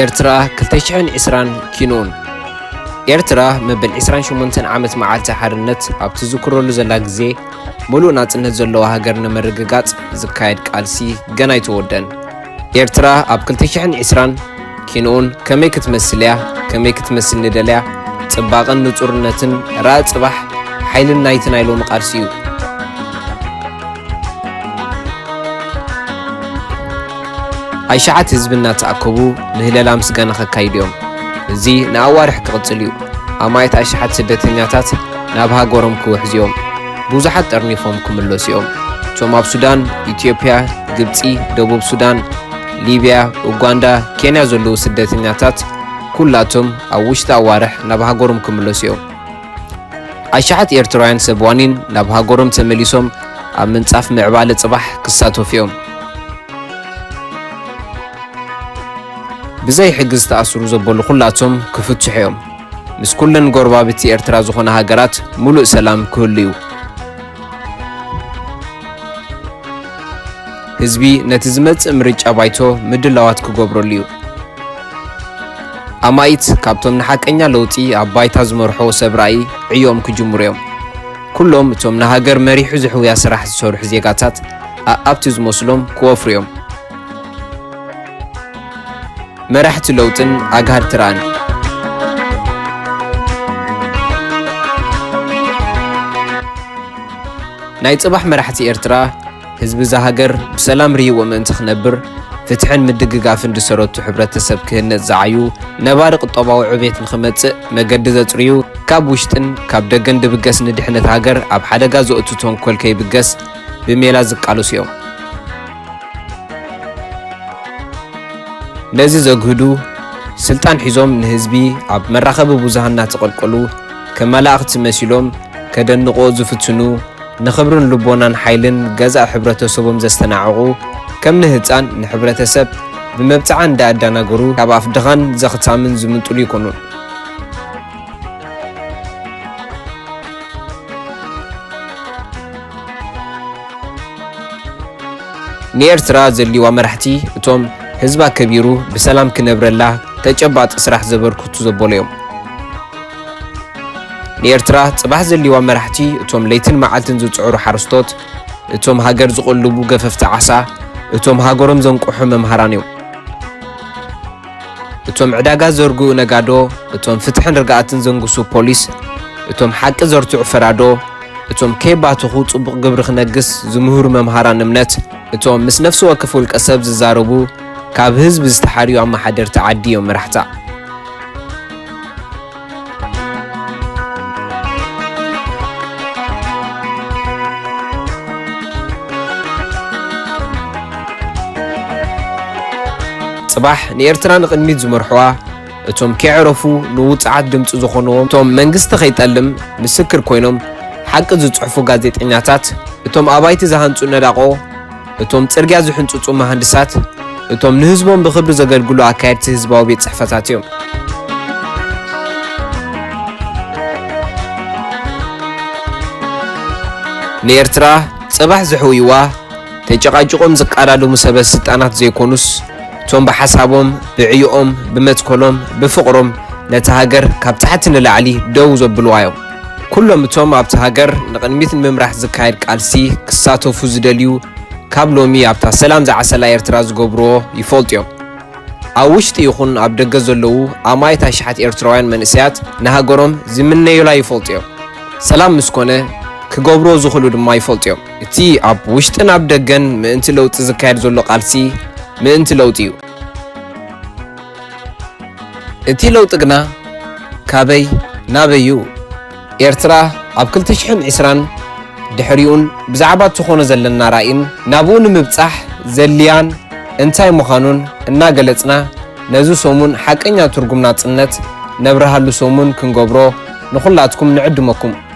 ኤርትራ 220 ኪኖን ኤርትራ መበል 28 ዓመት መዓልቲ ሓርነት ኣብ ትዝክረሉ ዘላ ግዜ ምሉእ ናጽነት ዘለዎ ሃገር ንምርግጋጽ ዝካየድ ቃልሲ ገና ኣይተወደን። ኤርትራ ኣብ ክልተ ሽሕን ዕስራን ኪንኡን ከመይ ክትመስል እያ? ከመይ ክትመስል ንደልያ? ጽባቐን ንጹርነትን ራእ ጽባሕ ሓይልን ናይቲ ናይ ሎሚ ቃልሲ እዩ። ኣይሸዓት ህዝቢ እናተኣከቡ ምህለላ ምስጋና ከካይዱ እዮም። እዚ ንኣዋርሕ ክቕጽል እዩ። ኣማኢት ኣሽሓት ስደተኛታት ናብ ሃገሮም ክውሕዙ እዮም። ብዙሓት ጠርኒፎም ክምለሱ እዮም። እቶም ኣብ ሱዳን፣ ኢትዮጵያ፣ ግብጺ፣ ደቡብ ሱዳን፣ ሊብያ፣ ኡጋንዳ፣ ኬንያ ዘለዉ ስደተኛታት ኩላቶም ኣብ ውሽጢ ኣዋርሕ ናብ ሃገሮም ክምለሱ እዮም። ኣሽሓት ኤርትራውያን ሰብ ዋኒን ናብ ሃገሮም ተመሊሶም ኣብ ምንጻፍ ምዕባለ ጽባሕ ክሳተፉ እዮም። ብዘይ ሕጊ ዝተኣስሩ ዘበሉ ኩላቶም ክፍትሑ እዮም። ምስ ኩለን ጎረባብቲ ኤርትራ ዝኾና ሃገራት ሙሉእ ሰላም ክህሉ እዩ። ህዝቢ ነቲ ዝመጽእ ምርጫ ባይቶ ምድላዋት ክገብረሉ እዩ። ኣማኢት ካብቶም ንሓቀኛ ለውጢ ኣብ ባይታ ዝመርሖ ሰብ ራእይ ዕዮኦም ክጅምሩ እዮም። ኩሎም እቶም ንሃገር መሪሑ ዝሕውያ ስራሕ ዝሰርሑ ዜጋታት ኣኣብቲ ዝመስሎም ክወፍሩ እዮም። መራሕቲ ለውጥን ኣግሃድቲ ራእን። ናይ ጽባሕ መራሕቲ ኤርትራ፣ ህዝቢ እዛ ሃገር ብሰላም ርሂዎ ምእንቲ ክነብር፣ ፍትሕን ምድግጋፍን ዝሰረቱ ሕብረተሰብ ክህነጽ ዝዓዩ፣ ነባሪ ቁጠባዊ ዕቤት ንክመጽእ መገዲ ዘጽርዩ፣ ካብ ውሽጥን ካብ ደገን ድብገስ ንድሕነት ሃገር ኣብ ሓደጋ ዘእቱ ተንኮል ከይብገስ ብሜላ ዝቃለሱ እዮም። ነዚ ዘግህዱ ስልጣን ሒዞም ንህዝቢ ኣብ መራኸቢ ብዙሃን እናተቐልቀሉ ከም መላእኽቲ መሲሎም ከደንቑዎ ዝፍትኑ፣ ንኽብርን ልቦናን ሓይልን ገዛእ ሕብረተሰቦም ዘስተናዕቑ፣ ከም ንህጻን ንሕብረተሰብ ብመብጽዓ እንዳኣዳናገሩ ካብ ኣፍ ድኻን ዘኽታምን ዝምንጥሉ ኣይኮኑን። ንኤርትራ ዘድልዋ መራሕቲ እቶም ህዝቢ ኣከቢሩ ብሰላም ክነብረላ ተጨባጢ ስራሕ ዘበርክቱ ዘበሉ እዮም። ንኤርትራ ጽባሕ ዘድልዋ መራሕቲ እቶም ለይትን መዓልትን ዝጽዕሩ ሓረስቶት፣ እቶም ሃገር ዝቕልቡ ገፈፍቲ ዓሳ፣ እቶም ሃገሮም ዘንቅሑ መምሃራን እዮም። እቶም ዕዳጋ ዘርግኡ ነጋዶ፣ እቶም ፍትሕን ርግኣትን ዘንግሱ ፖሊስ፣ እቶም ሓቂ ዘርትዑ ፈራዶ፣ እቶም ከይባተኹ ጽቡቕ ግብሪ ክነግስ ዝምህሩ መምሃራን እምነት፣ እቶም ምስ ነፍሲ ወከፍ ውልቀ ሰብ ዝዛረቡ ካብ ህዝቢ ዝተሓርዩ ኣመሓደርቲ ዓዲ እዮም መራሕታ። ጽባሕ ንኤርትራ ንቕድሚት ዝመርሕዋ እቶም ከይዕረፉ ንውጽዓት ድምጺ ዝኾንዎም እቶም መንግስቲ ከይጠልም ምስክር ኮይኖም ሓቂ ዝጽሕፉ ጋዜጠኛታት እቶም ኣባይቲ ዝሃንጹ ነዳቖ እቶም ጽርግያ ዝሕንጽጹ መሃንድሳት፣ እቶም ንህዝቦም ብኽብሪ ዘገልግሉ ኣካየድቲ ህዝባዊ ቤት ጽሕፈታት እዮም። ንኤርትራ ጽባሕ ዘሕውይዋ ተጨቓጭቖም ዝቃዳደሙ ሰበ ስልጣናት ዘይኮኑስ እቶም ብሓሳቦም ብዕዮኦም ብመትከሎም ብፍቕሮም ነታ ሃገር ካብ ታሕቲ ንላዕሊ ደው ዘብልዋ እዮም። ኩሎም እቶም ኣብቲ ሃገር ንቕድሚት ንምምራሕ ዝካየድ ቃልሲ ክሳተፉ ዝደልዩ ካብ ሎሚ ኣብታ ሰላም ዝዓሰላ ኤርትራ ዝገብርዎ ይፈልጡ እዮም። ኣብ ውሽጢ ይኹን ኣብ ደገ ዘለዉ ኣማኢት ኣሽሓት ኤርትራውያን መንእሰያት ንሃገሮም ዝምነዩላ ይፈልጡ እዮም። ሰላም ምስ ኮነ ክገብርዎ ዝኽእሉ ድማ ይፈልጡ እዮም። እቲ ኣብ ውሽጥን ኣብ ደገን ምእንቲ ለውጢ ዝካየድ ዘሎ ቃልሲ ምእንቲ ለውጢ እዩ። እቲ ለውጢ ግና ካበይ ናበይ'ዩ? ኤርትራ ኣብ ክልተ ሽሕን ዕስራን ድሕሪኡን ብዛዕባ እትኾኖ ዘለና ራኢን ናብኡ ንምብጻሕ ዘድልያን እንታይ ምዃኑን እናገለጽና ነዚ ሰሙን ሓቀኛ ትርጉም ናጽነት ነብርሃሉ ሰሙን ክንገብሮ ንኹላትኩም ንዕድመኩም።